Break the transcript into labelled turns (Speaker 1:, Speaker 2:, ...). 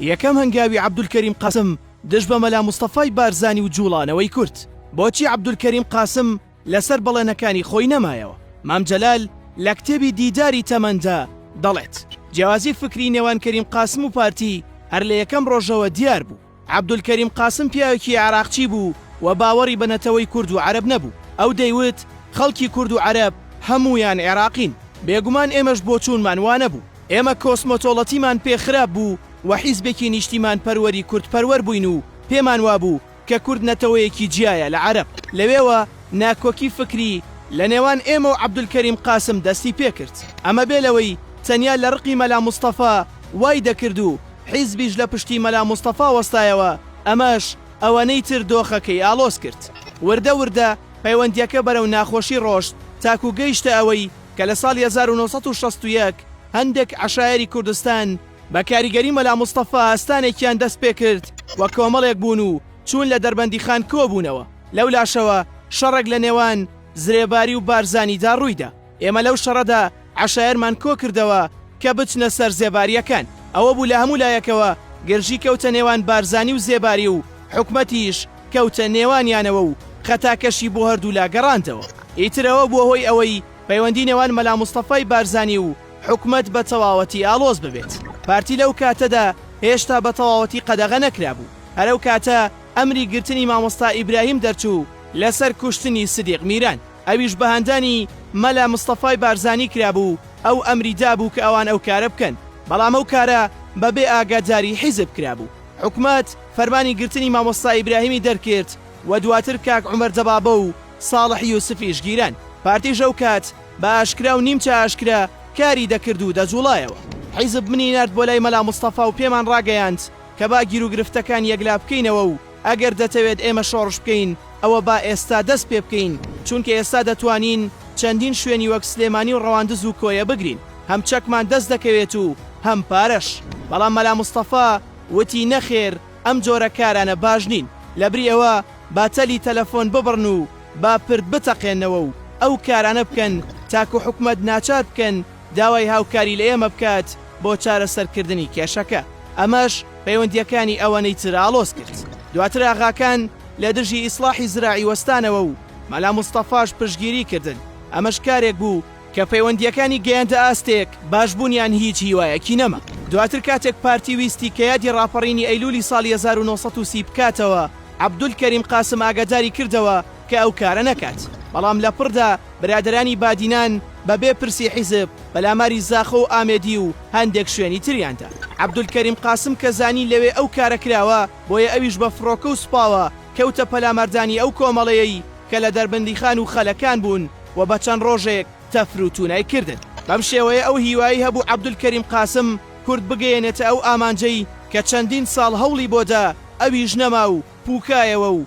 Speaker 1: یەکەم هەنگاوی عەبدولکەریم قاسم دژ بە مەلا مستەفای بارزانی و جووڵانەوەی کورد. بۆچی عەبدولکەریم قاسم لەسەر بەڵێنەکانی خۆی نەمایەوە؟ مام جەلال لە کتێبی دیداری تەمەندا دەڵێت، جیاوازی فکری نێوان کەریم قاسم و پارتی هەر لە یەکەم ڕۆژەوە دیار بوو. عەبدولکەریم قاسم پیاوێکی عێراقچی بوو و باوەڕی بە نەتەوەی کورد و عەرەب نەبوو. ئەو دەیوت، خەڵکی کورد و عەرەب هەموویان عێراقین، بێگومان ئێمەش بۆچوونمان وا نەبوو. ئێمە کۆسمۆتۆڵەتیمان پێ خراپ بوو و حیزبێکی نیشتیمانپەروەری کوردپەروەر بووین و پێمان وابوو کە کورد نەتەوەیەکی جیایە لە عەرەب. لەوێوە ناکۆکی فکری لە نێوان ئێمە و عەبدولکەریم قاسم دەستی پێ کرد. ئەمە بێ لەوەی تەنیا لە ڕقی مەلا مستەفا وای دەکرد و حیزبیش لە پشتی مەلا مستەفا وەستایەوە، ئەمەش ئەوەنەی تر دۆخەکەی ئاڵۆز کرد. وردە وردە پەیوەندییەکە بەرەو ناخۆشی ڕۆشت تاکوو گەیشتە ئەوەی کە لە ساڵی هەزار و نۆ سەد و شەست و یەک هەندێک عەشایەری کوردستان بە کاریگەری مەلا مستەفا ئەستانێکیان دەست پێ کرد و کۆمەڵێک بوون و چوون لە دەربەندیخان کۆ بوونەوە. لەو لاشەوە شەڕێک لە نێوان زرێباری و بارزانیدا ڕووی دا. ئێمە لەو شەڕەدا عەشایەرمان کۆ کردەوە کە بچنە سەر زێبارییەکان. ئەوە بوو لە هەموو لایەکەوە گرژی کەوتە نێوان بارزانی و زێباری و حکومەتیش کەوتە نێوانیانەوە و خەتاکەشی بۆ هەردوو لا گەڕاندەوە. ئیتر ئەوە بووە هۆی ئەوەی پەیوەندی نێوان مەلا مستەفای بارزانی و حکومەت بە تەواوەتی ئاڵۆز ببێت. پارتی لەو کاتەدا هێشتا بە تەواوەتی قەدەغە نەکرابوو. هەر ئەو کاتە ئەمری گرتنی مامۆستا ئیبراهیم دەرچوو لەسەر کوشتنی سدیق میران. ئەویش بە هاندانی مەلا مستەفای بارزانی کرابوو، ئەو ئەمری دابوو کە ئەوان ئەو کارە بکەن، بەڵام ئەو کارە بە بێ ئاگاداری حیزب کرابوو. حکومەت فەرمانی گرتنی مامۆستا ئیبراهیمی دەرکرد و دواتر کاک عومەر دەبابە و ساڵح یوسفیش گیران. پارتیش ئەو کات بە ئاشکرا و نیمچە ئاشکرا کاری دەکرد و دەجووڵایەوە. حیزب منی نارد بۆ لای مەلا مستەفا و پێمان ڕاگەیاند کە با گیروگرفتەکان یەکلا بکەینەوە و ئەگەر دەتەوێت ئێمە شۆڕش بکەین، ئەوە با ئێستا دەست پێ بکەین، چونکە ئێستا دەتوانین چەندین شوێنی وەک سلێمانی و ڕەواندز و کۆیە بگرین، هەم چەکمان دەست دەکەوێت و هەم پارەش. بەڵام مەلا مستەفا وتی، نەخێر، ئەم جۆرە کارانە باش نین، لەبری ئەوە با تەلی تەلەفۆن ببڕن و با پرد بتەقێنەوە و ئەو کارانە بکەن تاکو حکومەت ناچار بکەن داوای هاوکاری لە ئێمە بکات بۆ چارەسەرکردنی کێشەکە، ئەمەش پەیوەندییەکانی ئەوەنەی تر ئاڵۆز کرد. دواتر ئاغاکان لە دژی ئیسڵاحی زراعی وەستانەوە و مەلا مستەفاش پشتگیری کردن، ئەمەش کارێک بوو کە پەیوەندییەکانی گەیاندە ئاستێک باش بوونیان هیچ هیوایەکی نەما. دواتر کاتێک پارتی ویستی کە یادی ڕاپەڕینی ئەیلوولی ساڵی هەزار و نۆ سەد و سی بکاتەوە، عەبدولکەریم قاسم ئاگاداری کردەوە، کە ئەو کارە نەکات، بەڵام لە پڕدا برادەرانی بادینان بە بێ پرسی حیزب پەلاماری زاخۆ و ئامێدی و هەندێک شوێنی تریان دا. عەبدولکەریم قاسم کە زانی لەوێ ئەو کارە کراوە، بۆیە ئەویش بە فڕۆکە و سوپاوە کەوتە پەلاماردانی ئەو کۆمەڵەیەی کە لە دەربەندیخان و خەلەکان بوون و بە چەند ڕۆژێک تەفر و تونای کردن. بەم شێوەیە ئەو هیوای هەبوو عەبدولکەریم قاسم کورد بگەیەنێتە ئەو ئامانجەی کە چەندین ساڵ هەوڵی بۆ دا، ئەویش نەما و پووکایەوە و،